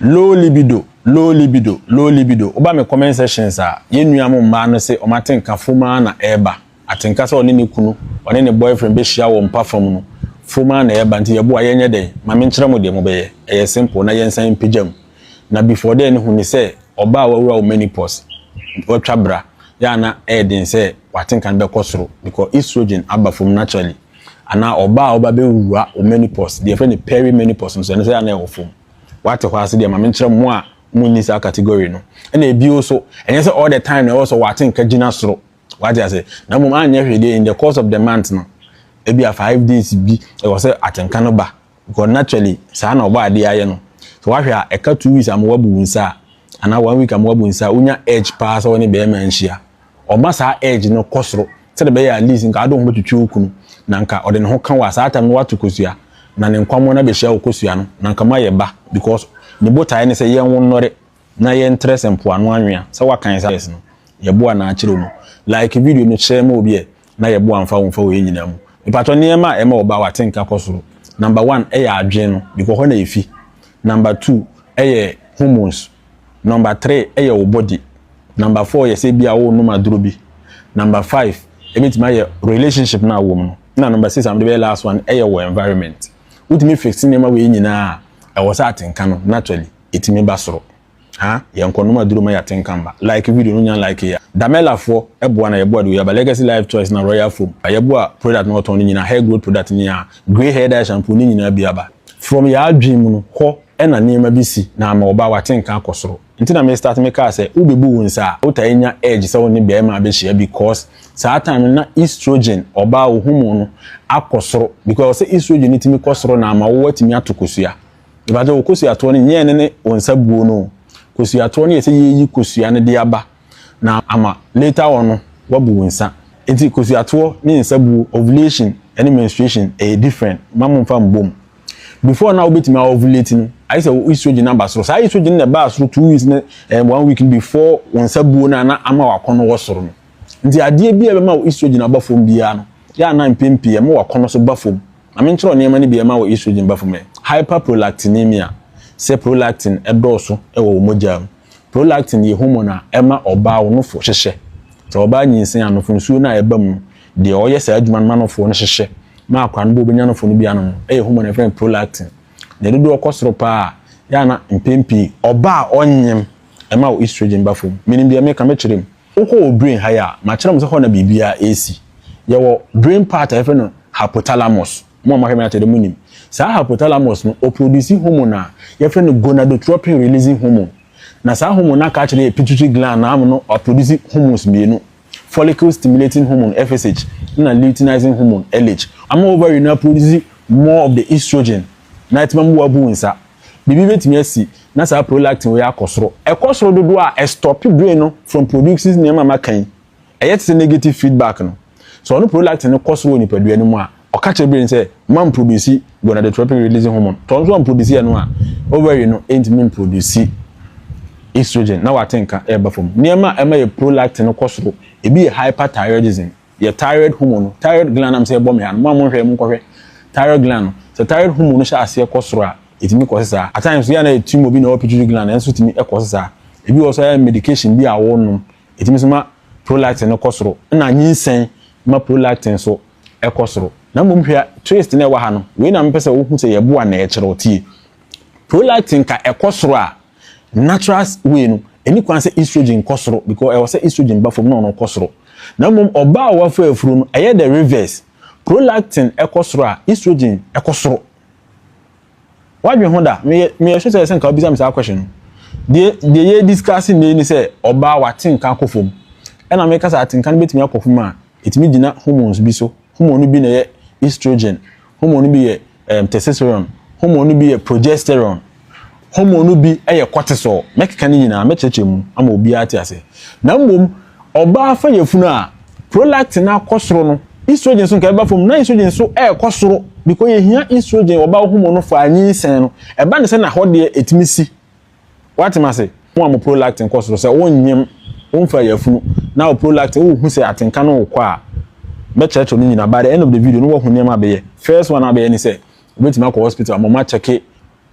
Low libido, low libido, low libido Woba me comment sections a, yɛn nua mo mmaa no se wɔn atenka fam ara na ɛreba. Atenka sɛ ɔne ne kunu, ɔne ne boyfriend bɛhyia wɔ mpa fam no, fam ara na ɛreba. Nti yɛboa, yɛnyɛ dɛn? Ma menkyerɛ mo deɛ mobɛyɛ. Ɛyɛ simple na yɛnsan mpagya mu. Na before then hu ne sɛ ɔbaa a wawura wo menopause, watwa bra, yɛ a na ɛyɛ den sɛ w'atenka no bɛkɔ soro because estrogen aba fam naturally. Anaa ɔbaa a woba bɛwura wo menopause, deɛ yɛfrɛ no perimenopause no nso, ɛno nso yɛ a na ɛwɔ fam. Wate hɔ ase deɛ ma menkyerɛ mo a mo nni saa category no. Ɛna ebio so, ɛnyɛ sɛ all the time na ɛwɔ sɛ wate nka gyina soro. Wate ase? Na mmom anyɛ hwee deɛ in the course of the month no, ebia five days bi ɛwɔ sɛ atenka no ba. Because naturally saa na ɔbɔ adeɛ ayɛ no. So wahwɛ a ɛka two weeks ama wabu wo nsa a, anaa one week ama wabu nsa a, wonya urge paa sɛ wo ne bɛrima nhyia. Ɔma saa urge no kɔ soro sɛdeɛ ɛbɛyɛ a at least nka wode wo ho bɛtwitwi wo kunu na nka ɔde ne ho ka wo a saa time no woato kosua na ne nkwammoa no abɛhyia wo kosua no na nka moayɛ ba because ne botaeɛ ne sɛ yɛnwo nnɔre na yɛntrɛ sɛ mpoano anwea sɛ woakan saa verse no yɛboa no akyerɛ mu like video no share ma obi ɛ na yɛ bo amfa womfa wɔ yɛ nyinaa mu mepatɔ nneɛma a ɛma ɔbaa watenka kɔ soro number one ɛyɛ adwen no bikɔ hɔ na efi number two ɛyɛ hormones number three ɛyɛ wo body number four yɛ sɛ ebia wo nom aduro bi number five ebetumi ayɛ relationship no a wɔ mu no na number six a mede bɛyɛ last one ɛyɛ wo environment wotumi fix nneɛma wɔ yɛ nyinaa a ɛwɔ sɛ atenka no naturally etumi ba soro. Ha yɛ nkɔnom aduro ma yɛate nkamba. Like video no nya like ya. Damella foɔ ɛboa na yɛboa de yaba legacy life choice na royal foam ba yɛboa product na ɔtɔn no nyinaa hair growth product ne ya grey hair dye shampoo ne nyinaa bi aba. From yɛ adwene mu no hɔ na nneɛma bi si na ama ɔbaa wate nka akɔ soro nti na me start me kaa sɛ wo bɛ bu wo nsa a wo tae nya urge sɛ wo ne bɛɛma abɛ hyia because saa time no na estrogen ɔbaa wo hormone no akɔ soro because ɔsɛ estrogen no tumi kɔ soro na ama wo watumi ato kosua. Mepakyɛ wo kosuatoɔ no nyɛ ɛno ne wo nsa buo no o. Kosuatoɔ no yɛ sɛ yɛreyi kosua no de aba na ama later on no woabu wo nsa. Nti kosuatoɔ ne nsa buo, ovulation ne menstruation ɛyɛ different. Mma momfa mmɔ mu. Before no a wobɛtumi a ovulate no, ayɛ sɛ wo estrogen no aba soro. Saa estrogen no na ɛbaa soro two weeks ne ɛɛ one week no before wo nsa buo no a na ama w'akɔnnɔ wɔ soro no. Nti adeɛ biara a ɛbɛma wo estrogen aba fam biara no, yɛ a na mpɛn pii ɛma w'akɔnnɔ nso ba fam. Maame nkyerɛw nneɛma no bi a ɛma wɔ estrogen ba fam ɛ, hyperprolactinemia, sɛ prolactin dɔɔso wɔ wo mogya mu. Prolactin yɛ hormone a ɛma ɔbaa ɔnofo hyehyɛ. Sɛ ɔbaa nyinsɛn a, anofo nsuo no a ɛba mu no, deɛ ɔyɛ saa adwuma no ma anofo no hyehyɛ ma akwadaa no ba a ɔbɛnya anofo no bi ano no yɛ hormone a yɛfrɛ no prolactin. Ne dodoɔ kɔ soro pa ara a, yɛ a na mpɛn pii ɔbaa a ɔnyem, ɛma wɔ estrogen ba fam. Menim deɛ meka, mɛkyerɛ mu. Wokɔ wɔ brain ha yi a, makyerɛ mo sɛ hɔ na biribiara resi. Yɛwɔ brain part a yɛfrɛ no hypothalamus. Mo a moahwɛ me atɛdɛ monim. Saa hypothalamus no, ɔprodusi hormone a yɛfrɛ no gonadotropin releasing hormone. Na saa hormone no aka akyerɛ yɛn pituitary gland no ano no aprodusi hormones mmienu, follicle stimulating hormone, FSH, ɛna luteinizing hormone, LH, ama ovary no aprodusi more of the estrogen na ɛtema mu wabu nsa. biribi betumi asi na saa prolactin wei akɔ soro. Ɛkɔ soro dodoɔ a, ɛstɔpe brain no from producing nneɛma a maka yi. Ɛyɛ te sɛ negative feedback no. Sɛ ɔno prolactin no kɔ soro wɔ nipadua no mu a, ɔka kyerɛ brain sɛ, mma mproduce gonadotropin releasing hormone. Sɛ ɔno nso amproduce ɛno a, ovary no ntumi mproduce estrogen na wate nka ɛreba fam. Nneɛma a ɛma yɛ prolactin no kɔ soro, ebi yɛ hyperthyroidism, yɛ thyroid hormone no thyroid gland nam sɛ ɛbɔ me ha no mo a mo nhwɛ mo nkɔhwɛ thyroid gland no sɛ thyroid hormone no hyɛ aseɛ kɔ soro a ɛtumi kɔ sesa at times so yɛ na ɛtumi obi na ɔwɔ pituitary gland ɛnso tumi ɛkɔ sesa ebi wɔ so ayɛ medication bi a wɔnom ɛtumi so ma prolactin no kɔ soro ɛna nyinsɛn ma prolactin so ɛkɔ soro na mmom hwɛ twist na ɛwɔ ha no wei na mepɛ sɛ wohu sɛ yɛboa na ɛkyerɛ ɔtie prolactin ka ɛkɔ soro a natural way no ɛni kwan sɛ estrogen kɔ soro because ɛwɔ sɛ estrogen ba fam na ɔno kɔ soro na mmom ɔbaa a wafa afuro no ɛyɛ the reverse prolactin ɛkɔ soro a estrogen ɛkɔ soro wadwe ho da meyɛ meyɛ so sɛ ɛsɛ nka wobisa me saa question no deɛ deɛ yɛ discuss nnɛ ni sɛ ɔbaa watenka akɔ fam ɛna mekasa atenka no bɛtumi akɔ fam a Ɛtumi gyina hormones bi so. Hormone no bi na ɛyɛ estrogen, hormone no bi yɛ um, testosterone, hormone no bi yɛ progesterone, hormone no bi yɛ cortisol. Mɛkeka ne nyinaa, mɛkyerɛkyerɛ mu ama obiara te ase. Na mmom, ɔbaa fa yafunu a, prolactin akɔ soro no, estrogen so nka ɛba fam, na estrogen nso ɛrekɔ soro, because yɛhia estrogen, ɔbaa hormone no fa anyinsɛn no. Ɛba ne sɛ na hɔ deɛ ɛtumi si. Woate me ase? Mo a mo prolactin kɔ soro, sɛ wonnyem, womfa yafunu, na wo prolactin, wohu sɛ atenka no rekɔ a, mɛkyerɛkyerɛ ne nyinaa. By the end of the video no, woahu nneɛma a bɛyɛ. First one a wobɛyɛ ne sɛ, wobɛtumi akɔ hospital ama wɔakyɛke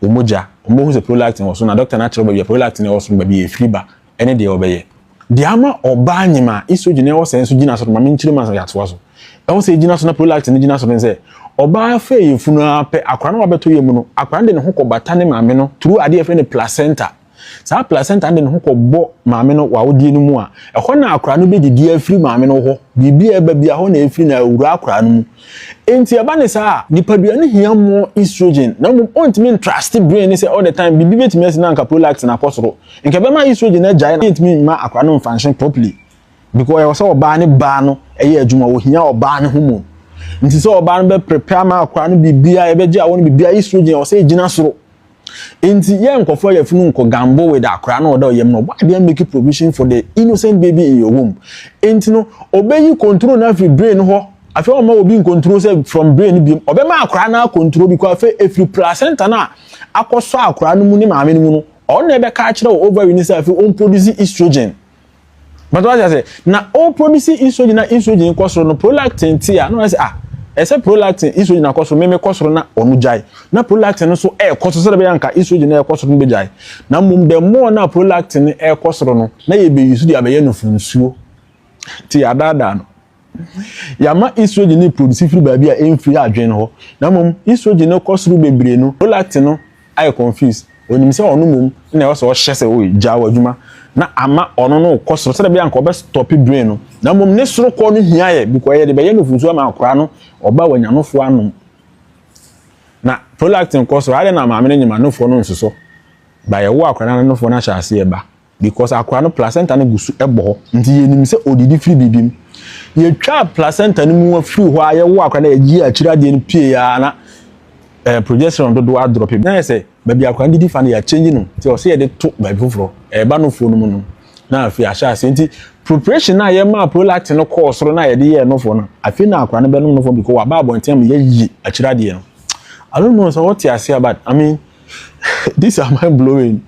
wo mogya. Wɔbɛhu sɛ prolactin wɔ soro, na doctor no akyerɛ wo baabi a prolactin a ɛwɔ soro no, baabi a ɛfiri ba, ne deɛ wɔbɛyɛ. Deɛ ama ɔbaa nyem a estrogen a ɛwɔ sɛ nso gyina so no, ma menkyerɛ mu ansa yɛatoa so. Ɛwɔ sɛ egyina so na prolactin no gyina so no sɛ, ɔbaa fɛ yafunu ara pɛ, akwadaa no wabɛtɔ yam no, akwadaa no de ne ho kɔbata ne maame no through adeɛ yɛfrɛ no placenta. Saa placenta no de ne ho kɔbɔ maame no wɔ awodeɛ no mu a, ɛhɔ na akwadaa no bɛdidi afiri maame no hɔ. Biribi a ɛba bia, hɔ na ɛfiri na awura akwadaa no mu. Enti ɛba ne saa a, nipadua no hia more estrogen, na mmom ɔntumi ntraste brain no sɛ all the time biribi bɛtumi asi na anka prolactin akɔ soro. Nka ɛbɛma estrogen no agyae na yɛntumi mma akwadaa no mfanhyɛn properly because ɛwɔ sɛ ɔbaa ne baa no ɛyɛ adwuma, wɔhia ɔbaa no hormone. Nti sɛ ɔbaa no bɛ prepare ama akwadaa no biribiara, yɛbɛgye awɔ no biribiara, estrogen ɛwɔ sɛ ɛgyina soro. Nti yɛ nkɔfoɔ yɛ funu nkɔ gambo with akwadaa no ɔda ɔyam no, why didn't make a provision for the innocent baby in your womb? Nti no, ɔbɛyi control no afiri brain no hɔ, afei ɔma obi nkontrol sɛ from brain no biom, ɔbɛma akwadaa no akontrol because afei ɛfiri placenta no a akɔsɔ akwadaa no mu ne maame no mu no, ɔno na ɛbɛka akyerɛ wɔ ovary no sɛ afei wɔn produce estrogen bàtà wàá sɛ na wɔn produce estrogen na estrogen kɔ soro no prolactin ti a na wɔn sɛ ah ɛsɛ prolactin estrogen akɔ soro mɛmɛ kɔ soro na wɔn gyae na prolactin no so ɛɛkɔ soro sɛ ɛbɛyɛ nka estrogen na ɛkɔ soro no bɛ gyae na mmom the more na prolactin no ɛɛkɔ soro no na yɛ bɛ yi so de abɛyɛ no funsuo ti yɛ adaadaa no. Yɛama estrogen no reproduce firi baabi a ɛmfiri adwene hɔ, na mmom estrogen no rekɔ soro bebree no, prolactin no ayɛ confused. Ɔnim sɛ ɔno mmom na ɛwɔ sɛ ɔhyɛ sɛ, Oi, gyaa w'adwuma, na ama ɔno no rekɔ soro sɛdeɛ ɛbɛyɛ a anka ɔbɛstɔpe brain no, na mmom ne sorokɔ no hia yɛ because yɛde bɛyɛ nufu nsuo ama akwadaa no, ɔba a wanya anofoɔ anom, na prolactin kɔ soro, adɛn na maame no nyim anofoɔ no nsosɔ? By ɛwo a akwadaa no anofoɔ no ahyɛ aseɛ ba. Because akora no placenta no gu so bɔ hɔ nti yɛnim sɛ ɔdidi firi biribi mu. Yɛtwaa placenta no mu afiri hɔ a yɛwɔ akora no yɛgye akyiri adeɛ no pie a na eh, progesterone dodoɔ adrɔpe. Na yɛ sɛ baabi akora no didi fa no yɛakyɛngye no nti ɔsɛ yɛde to baabi foforɔ ɛreba nofoɔ no mu no na afei ahyɛ aseɛ nti preparation no a yɛmaa prolactin no kɔɔ soro na yɛde yɛɛ nofoɔ no afei na akora no bɛnom nofoɔ because waba abɔnten ama yɛayi akyiri adeɛ no. I don't know sɛ wɔte aseɛ but I mean These are mind blowing.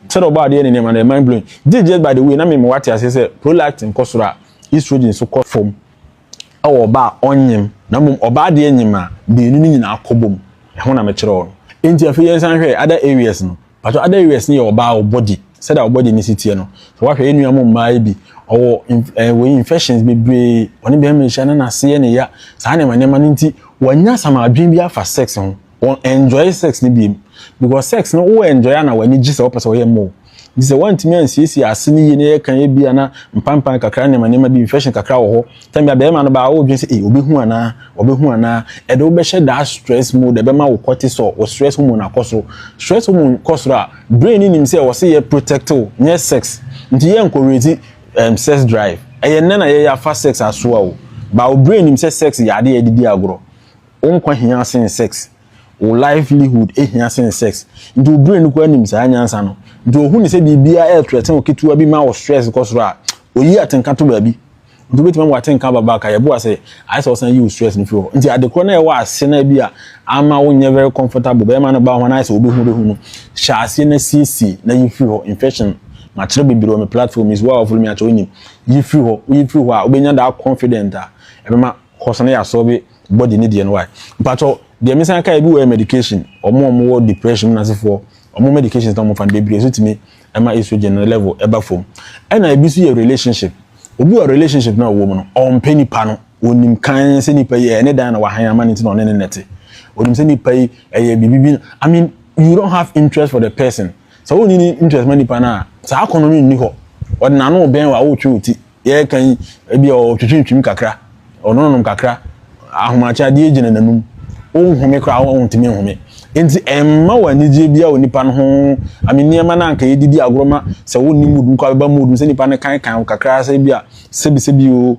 Sɛdeɛ ɔbɔ adeɛ ne nneɛma no yɛ mind blowing. This just by the way na mema wate aseɛ sɛ prolactin kɔ soro a estrogen nso kɔ fam wɔ ɔbaa a ɔnyem na mmom ɔbaa deɛ nyem a mmienu no nyinaa kɔbom. Ɛho na mekyerɛ wo no. Enti afei yɛnsan nhwɛ other areas no. Mpakyɛw other areas no yɛ ɔbaa wo body sɛdeɛ wo body no si teɛ no. Sɛ woahwɛ yɛn nua mo mmaa yi bi ɔwɔ eh, wei infections bebree ɔne bɛrima nhyia na n'ase yɛ ne ya saa nneɛma nneɛma no nti wanya some adwene bi afa sex ho. wɔn enjoy sex no biem because sex no wo enjoy ana w'ani gye sɛ wɔpɛ sɛ wɔyɛ mma o nti sɛ wɔntumi ansiesie ase no yie na yɛka yɛ bi ana mpampan kakra nneɛma nneɛma bi infection kakra wɔ hɔ tɛn bia bɛrima no baa wodwen sɛ ee obehu anaa ɔbɛhu anaa ɛde wobɛhyɛ that stress mode ɛbɛma wo cortisol wo stress hormone akɔ soro stress hormone kɔ soro a brain no nim sɛ wɔse yɛ protect wo nyɛ sex nti yɛ nkɔrɛti um, sex drive ɛyɛ nnɛ na yɛyɛ afa sex asoa o baa wo brain nim sɛ sex yɛ adeɛ yɛde di agorɔ Wo nkwa hia sen sex. Wo livelihood hia sen sex. Nti wo brain koraa nim saa nyansa no. Nti ohu no sɛ biribiara yɛ threaten wo ketewa bi ma wo stress kɔ soro a, oyi atenka to baabi. Nti wobɛtumi ama w'atenka aba back a, yɛboa sɛ ayɛ sɛ wosan yi wo stress no firi hɔ. Nti adekorɔ no a ɛwɔ ase no a bi a amma wonyɛ very comfortable, bɛrima no baa hɔ no ayɛ sɛ wobɛhu wobɛhu no, hyɛ aseɛ na siesie na yi firi hɔ. Infection, makyerɛ bebree wɔ me platform yi so, wo a wo follow me akyɛ wonim. Yi firi hɔ, woyi firi hɔ a, wobɛnya that confident a ɛbɛma course no yɛ asoɔ bi body ne deɛ no wae mpakyɛw deɛ me san kae bi wɔ medication ɔmo ɔmo wɔ depression mu nasefoɔ ɔmo medications na ɔmo fa no bebree so tumi ɛma estrogen no level ɛba fam ɛna ebi so yɛ relationship obi wɔ relationship na ɔwɔ mu no ɔmpɛ nipa no onim kan sɛ nipa yi ɛne dan na wahan ama ne ti na ɔne ne nɛte onim sɛ nipa yi ɛyɛ biribi bi I mean you don't have interest for the person sɛ wonni ne interest ma nipa no a saa akɔnɔ no nni hɔ ɔde n'ano bɛn wɔ a wotwe wo ti yɛreka yi ebi ɔtwitwitwim kakra ɔnonom kakra ahomakye adeɛ gyina n'anum wonhome koraa wontumi nhome nti ɛmma wɔ anigyeɛ biara wɔ nipa no ho ame nneɛma no anka yɛdidi agorɔ ma sɛ wonni mood mu kɔ abɛba mood mu sɛ nipa no kankan wo kakra sɛ bi a sɛbisɛbi o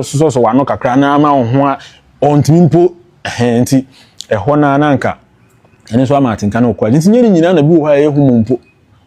ɔsosɔsɔ w'ano kakra na ama wo ho a ɔntumi mpo ɛhɛn nti ɛhɔ no ara na anka ɛno nso ama atenka no wɔ kora nti nyɛ ne nyinaa na bi wɔ hɔ a ɛyɛ hu mu mpo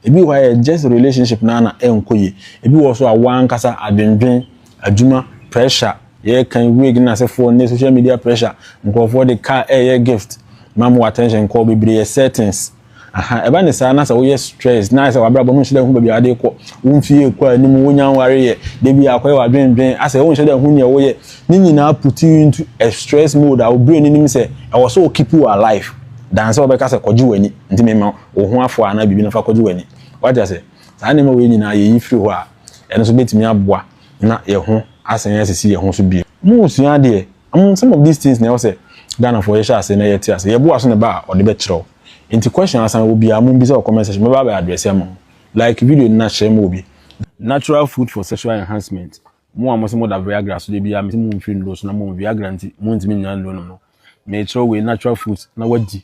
Ebi wɔ hɔ a ɛyɛ just relationship no ara na ɛnkɔ yie. Ebi wɔ hɔ nso a wo ara ankasa adwendwen, adwuma, pressure, yɛrekan wig no asefoɔ nnɛ, social media pressure, nkurɔfoɔ de car ɛreyɛ gift ma mo attention nkɔɔ bebree yɛ settings. Aha, ɛba ne saa na sɛ woyɛ stress na ayɛ sɛ w'abrabɔ no wonhyɛ da nhu baabi a wode rekɔ, wo mfeɛ rekɔ anim, wonnya nwareeɛ, da biara akɔyɛ w'adwendwen, asɛ wonhyɛ da nhu deɛ woyɛ, ne nyinaa puts you into a stress mode a wo brain no nim sɛ ɛwɔ sɛ ɔkeep wo alive than sɛ ɔbɛka sɛ kɔgye w'ani, nti memma wo. wo ho afoa anaa biribi no fa kɔgye w'ani. Woate ase? Saa nneɛma wei nyinaa yeyi firi hɔ a, ɛno nso betumi aboa na yɛn ho asan asisi yɛn ho so bio. Moresua adeɛ? Um, some of these things na ɛwɔ sɛ Ghanafoɔ yɛhyɛ ase na yɛte ase. Yɛboa so na ɛba a, ɔde bɛkyerɛw. Enti question asan wɔ biara, mommisa wɔ comment section, mɛba abɛ address ama mo. Like video no na share ma obi. Natural food for sexual enhancement, Mo a mose moda Viagra so da biara, mese momfiri nnuro so na mmom Viagra nti montumi nnya nnuro nom no, merekyerɛw wei, natural fruits, na woadi.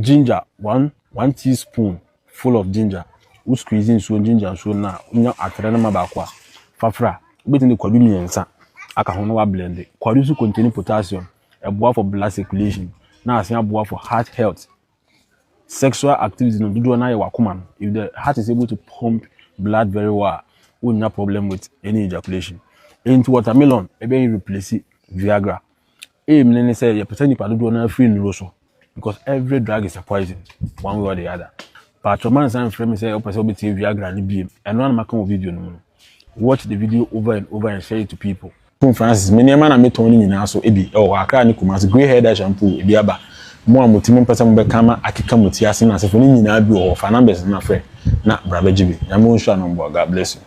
Ginger, one one tea spoon full of ginger, wo squeeze nsuo ginger nsuo no na wonya atere no ma baako a, fa fra. Wobɛtumi de kwadu mmiɛnsa aka ho na wa blend. Kwadu nso contain potassium, ɛboa for blood circulation, na asan aboa for heart health. Sexual activity no dodoɔ no ayɛ wakoma no. If the heart is able to pump blood very well a, wonnya problem with any ejaculation. Enti watermelon ɛbɛn replace Viagra. aim no ne sɛ yɛpɛ sɛ nipa dodoɔ no afiri nnuro so because every drug is a poison one way or the other paatwɔ ma nsa mfrɛ me sɛ wopɛ sɛ wobɛtie viagra no biem ɛno a na maka wɔ video no mu no watch the video over and over and share it to people Tom Francis, me nneɛma na metɔn no nyinaa so ebi ɛwɔ hɔ Accra ne Kumasi, Grey Hair Dye Shampoo, ebi aba. Mo a mo ti mo mpɛ sɛ mo bɛka ma akeka mo ti ase ne asefo no nyinaa bi wɔ hɔ, fa numbers no na frɛ na bra bɛgye bi. Nyame ɔnhyira no mboa, God bless you.